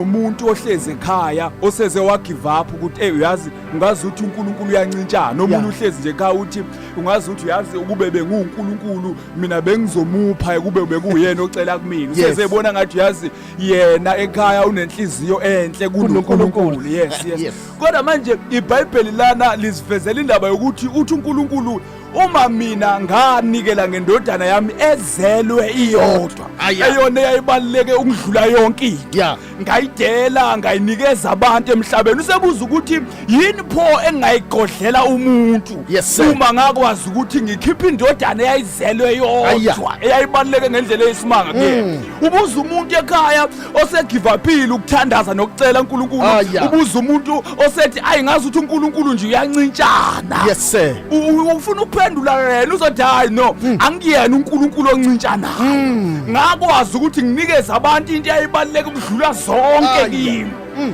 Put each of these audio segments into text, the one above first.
umuntu ohlezi ekhaya oseze wagivapha ukuthi ey uyazi ungazi ukuthi uNkulunkulu uyancintshana omunye uhlezi nje ekhaya uthi ungazi ukuthi uyazi ukube benguNkulunkulu mina bengizomupha ukube bekuyena ocela kumina useze ebona ngathi uyazi yena ekhaya unenhliziyo enhle kuNkulunkulu yes yes kodwa manje iBhayibheli lana lizivezela indaba yokuthi uthi uNkulunkulu uma mina nganikela ngendodana yami ezelwe iyodwa Ah, yeah. eyona eyayibaluleke ukudlula yonke into Yeah. ngayidela ngayinikeza abantu emhlabeni usebuza ukuthi yini pho engingayigodlela umuntu Yes, sir. uma ngakwazi ukuthi ngikhiphe indodana eyayizelwe Ah, yeah. Mm. yodwa eyayibaluleke ngendlela eyisimanga kuyena ubuza umuntu ekhaya osegivaphile ukuthandaza nokucela uNkulunkulu Ah, yeah. ubuza umuntu osethi ayi ngazi ukuthi uNkulunkulu nje uyancintshana yes sir U- u- ufuna ukuphendula yena uzothi hayi no Hmm. angiyena uNkulunkulu oncintshanayo ngakwazi ukuthi nginikeze abantu into eyayibaluleke ukudlula zonke Ah, kimi Hmm.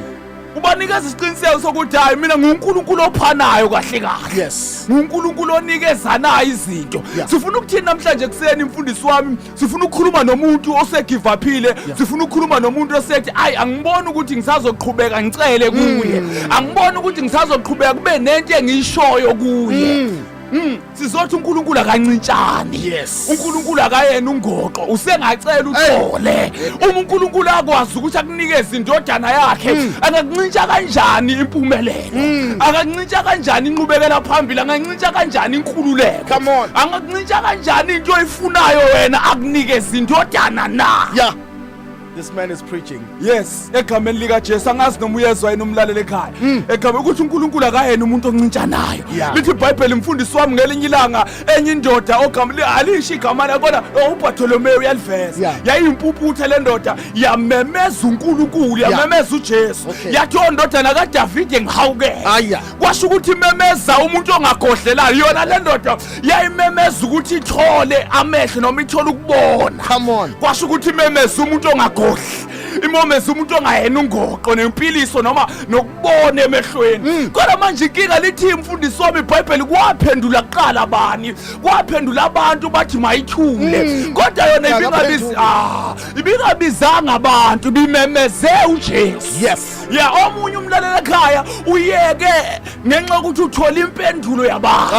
ubanikeza isiqiniseko sokuthi hayi mina nguNkulunkulu ophanayo kahle kahle yes nguNkulunkulu onikezanayo izinto Yeah. sifuna ukuthini namhlanje kuseni mfundisi wami sifuna ukukhuluma nomuntu osegivaphile sifuna ukukhuluma nomuntu osethi ayi angiboni ukuthi ngisazoqhubeka ngicele kuye mm. angiboni ukuthi ngisazoqhubeka kube nento engiyishoyo kuye mm. Mm. sizothi uNkulunkulu akancintshani yes uNkulunkulu akayena ungoqo usengacela uthole uma uNkulunkulu akwazi ukuthi akunikeze indodana yakhe mm. angakuncintsha kanjani impumelelo mm. akancintsha kanjani inqubekela phambili Ngingakuncintsha kanjani inkululeko? Come on. Angakuncintsha kanjani into oyifunayo wena akunikeza indodana na? Yeah. This man is preaching. Yes, egameni lika Jesu angazi noma uyezwa yena umlaleli ekhaya. Hmm. Egameni ukuthi uNkulunkulu akayena umuntu oncintsha nayo. Lithi iBhayibheli mfundisi wami ngelinye ilanga enye indoda ogameni alisho igama layo kodwa oh, uBartholomew uyaliveza. Yayimpuputhe le ndoda yamemeza uNkulunkulu, yamemeza uJesu. Yathi ondodana oh, kaDavid ngihawukele. kwasho ukuthi imemeza umuntu ongagodlelayo yona le ndoda yayimemeza ukuthi ithole amehlo noma ithole ukubona Come on. kwasho ukuthi imemeza umuntu ongagodli imomeza umuntu ongayena ungoqo nempiliso noma nokubona emehlweni kodwa manje inkinga lithi imfundiso wami ibhayibheli kwaphendula kuqala bani kwaphendula abantu bathi mayithule kodwa yona ibingabiz- Yakaphendula. ah, ibingabizanga abantu bimemeze ujesu Yes. ya omunye umlalela ekhaya uyeke ngenxa yokuthi uthola impendulo yabantu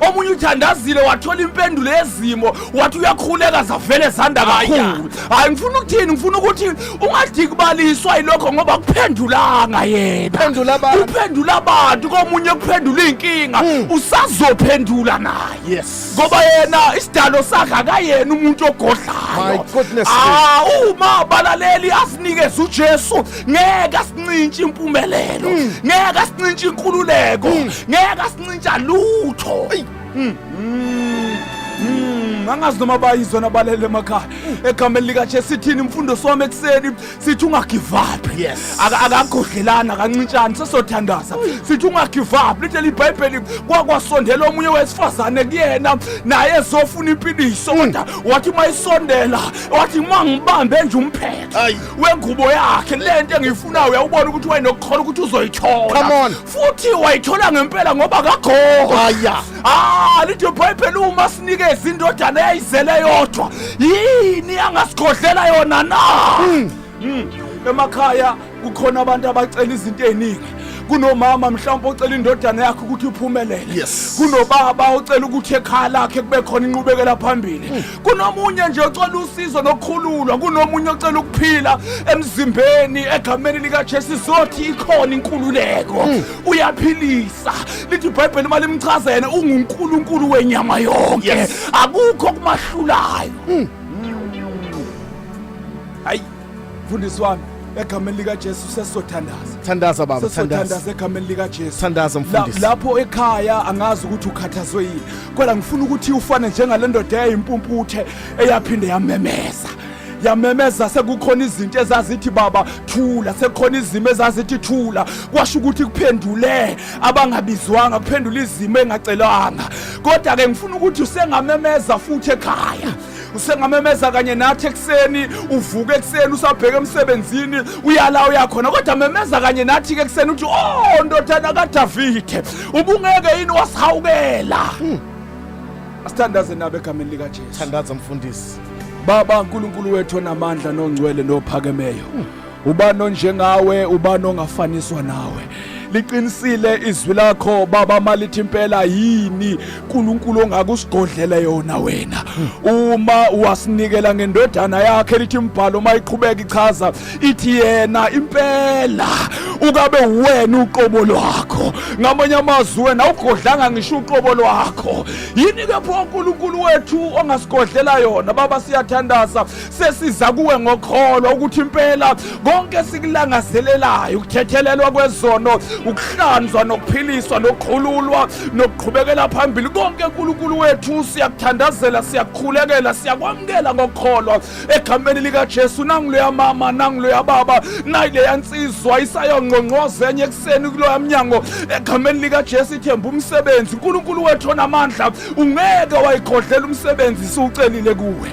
omunye uthandazile wathola impendulo yezimo wathi uyakhuleka zavele zanda kakhulu hayi ngifuna ukuthini ngifuna ukuthi ungadikubaliswa yilokho ngoba kuphendulanga yena kuphendula abantu komunye kuphendula iy'nkinga hmm. usazophendula naye ngoba yena isidalo sakhe akayena umuntu ogodlayo ah, uma abalaleli asinikeze ujesu ngeke asincintshe impumelelo mm. ngeke asincintshe inkululeko mm. ngeke asincintsha lutho Mm, angazi noma bayizwa nabalele emakhaya mm. egameni likajesu sithini imfundo siwami ekuseni sithi ungagivaphi akagodlelani akancintshani sesothandaza mm. sithi ungagivaphi lithi leli bhayibheli kwakwasondela omunye wesifazane kuyena naye ezofuna impiliso kodwa wathi uma isondela wathi uma ngibambe nje umphetho wengubo yakhe le nto engiyifunayo uyawubona ukuthi wayenokukhola ukuthi uzoyithola Come on. futhi wayithola ngempela ngoba kagogo Haya. ah lithi ibhayibheli uma sinikeza indodana eyayizele yodwa yini angasikhohlela yona na Mm. emakhaya kukhona abantu abacela izinto eziningi kunomama mhlawumbe ocela indodana yakhe ukuthi iphumelele Yes. kunobaba ocela ukuthi ekhaya lakhe kube khona inqubekela phambili kunomunye nje ocela usizo nokukhululwa kunomunye ocela ukuphila emzimbeni egameni likajesu zothi ikhona inkululeko hmm. uyaphilisa lithi ibhayibheli uma limchaza yena ungunkulunkulu wenyama yonke akukho kumahlulayo hmm. Hmm. hayi mfundisi wami egameni likaJesu sesizothandaza thandaza baba sesizothandaza egameni likaJesu thandaza mfundisi lapho ekhaya angazi ukuthi ukhathazwe yini kodwa ngifuna ukuthi ufane njengale ndoda eyayimpumputhe eyaphinde yamemeza yamemeza sekukhona izinto ezazithi baba thula sekukhona izimo ezazithi thula kwasho ukuthi kuphendule abangabizwanga kuphendula izimo engacelwanga kodwa-ke ngifuna ukuthi usengamemeza futhi ekhaya usengamemeza kanye nathi ekuseni uvuke ekuseni usabheke emsebenzini uyala uyakhona kodwa memeza kanye nathi ke ekuseni uthi oh ndodana kadavide ubungeke yini wasihawukela hmm. asithandaze nabo egameni likajesu thandaza mfundisi baba nkulunkulu wethu onamandla nongcwele nophakemeyo hmm. ubani onjengawe ubani ongafaniswa nawe liqinisile izwi lakho baba malithi impela yini uNkulunkulu ongakusigodlela yona wena uma wasinikela ngendodana yakhe lithi imbhalo mayiqhubeka ichaza ithi yena impela ukabe uwena uqobo lwakho ngamanye amazwi wena awugodlanga ngisho uqobo lwakho yini ke pho uNkulunkulu wethu ongasigodlela yona baba siyathandaza sesiza kuwe ngokholo ukuthi impela konke esikulangazelelayo ukuthethelelwa kwezono ukuhlanzwa nokuphiliswa nokukhululwa nokuqhubekela phambili konke uNkulunkulu wethu siyakuthandazela siyakukhulekela siyakwamukela ngokholwa egameni likaJesu nangiloya mama nangiloya baba nayileya nsizwa isayongqongqoza enye ekuseni kuloya mnyango egameni likaJesu ithemba umsebenzi uNkulunkulu wethu onamandla ungeke wayigodlela umsebenzi siwucelile kuwe